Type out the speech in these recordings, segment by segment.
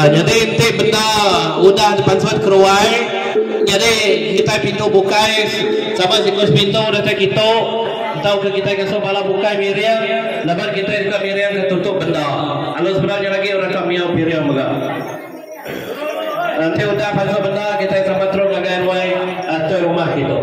Nyadi enti benda udah dipansut keruai, nyadi kitai pintu bukai sama siku sepintu datai kitu. Entauka kitai ngasuh bala bukai miring laban kitai deka miringka tutup benda. Alu sebedau nya agi orang ka miau piring mega. Enti udah pansut benda, kitai sama terus ngagai ruai atau rumah kitu.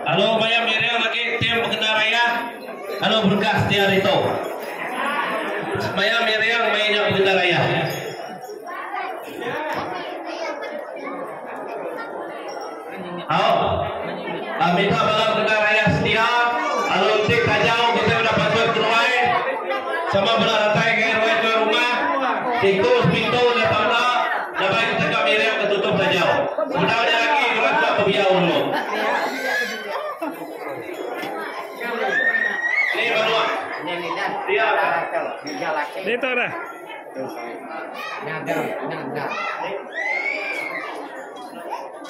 Alu maya miring agi tim bekena raya alu berengkah setia ari tu. Maya miring maya nya bekena raya. Au. Mita bala mendengar ayah setia lalu enti tajau kitai udah patut kenuai sama bala ratai ngagai ruai tuai rumah, siku sepintu enggau tangga laban kitai deka miringka tutup tajau. Sebedau nya agi orang tua pebiyau dulu. Ni menua. Dia ka. Ni tu dah. Nada nada.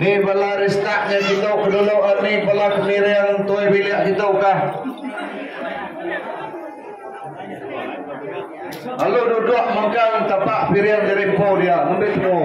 Ni bala restart nya kitu ke dulu eh ni bala ke miring entoi bilik kitu kah. Lalu duduk mengkang tapak piring jadi empu dia ngambil pengu.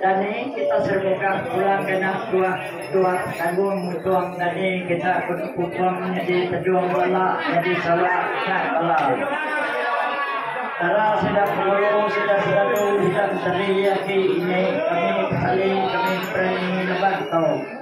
Dani kita serbega pulang kena tuak tuak tanggung mutung dani kita kupung nyadi pejung bala nyadi sawa kat bala tara sida pengulu sida selalu sida menteri aki ini kami pesali kami berani neban tau.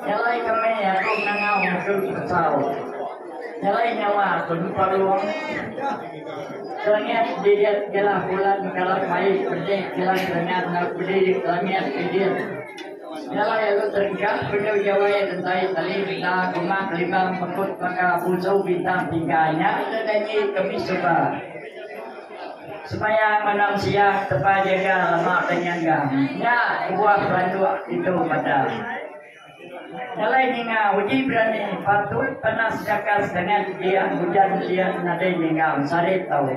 Jalai kami aku ngangau ke Besau jalai nyawa aku nyupa ruang Kelangian didit jelah bulan karat mai pedih jelah kelangian enggau pedih langit didit jalai aku terengkah penyu jawai rentai tali benda kuma kelimbang pekut baka busau bintang tiga nya ke janji kami suba. Semaya malam siang tepa jaga lama penyangga nya kebuah pelanduk ditu meda. Nyalai ninga uji berani patut panas chakas dangan dian ujan dian nadai ninga sarit tau.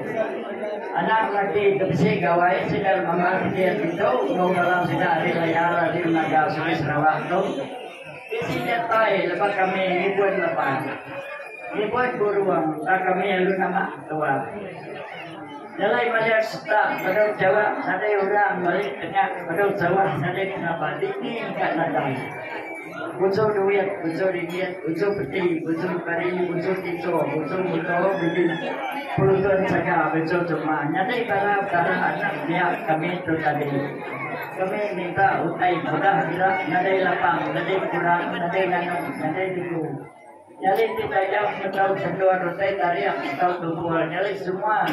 Anak laki ke bisi gawai sida mambah kedian ditu enggau bala sida ari layar ari Naga Sungai Sarawak tu. Isi nyatai lebuh kami ngibun leban. Ngibun burung tang kami alu nama tua. Nyelai madah setak bedau Jawa nadai orang balik tengah bedau Jawa nadai kena ba dini ka nadai. Busu duit, busu ringgit, busu peti, busu kari, busu tisu, busu muto bisi pelutun saga busu suma nyadi bala-bala anak mia kami tu tadi. Kami minta utai mudah ira nadai lapang, nadai kurang, nadai nganum, nadai tigu. Nyali ti tajam enggau sendur utai taring enggau tumpul nyali semua.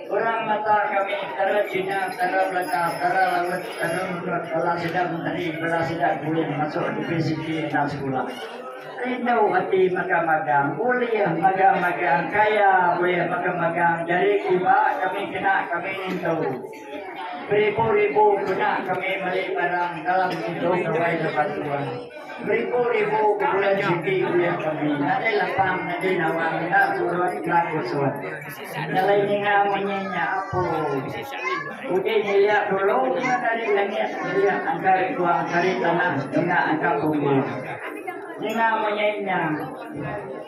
Orang mata kami kara Cina, kara Melaka, kara Laut, kara Mendut bala sida menteri, bala sida guring masuk universiti enda sekula. Rindu ati mega magang, ulih mega magang, kaya ulih mega magang, jadi kiba kami kena kami nintu. Beribu-ribu kena kami meli barang dalam indu gawai lebat tuai. Beribu-ribu bebulan siti kuya kami nadai lapang nadai nawa enda turut ka kusut. Nyelai ninga munyi nya apu. Uji nyilia dulu ngan ari langit nyilia angkai tua angkari tanah ninga angka bumbu. Ninga munyi nya.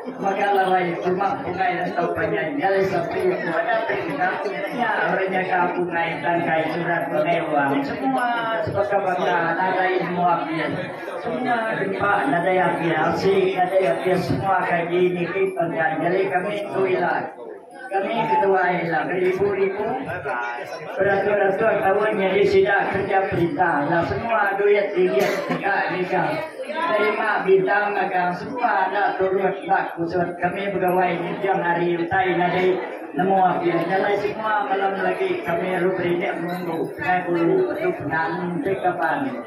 Mega larai cuma pungai enda tau panjai nyai sapi aku ada perinda nya orang nyaga pungai tangkai surat pengeluang semua sebaka baka nadai semua abis semua dempa nadai abis asik nadai abis semua kaki niki penggan nyadi kami tu ila. Kami ketuai ila beribu-ribu beratur-atur taun nyadi sida kerja perintah ila semua duit ringgit deka ngiga terima bintang magang semua enda turut ba kusut kami begawai nginjung hari utai nyadi nemu apih jalai semua malam lagi kami ruberindik menunggu pegai bulu petu penang enti kaban.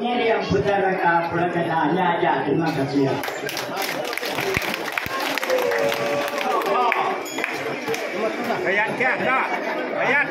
Ngirim peda reka pelegeda nya aja terima kasih.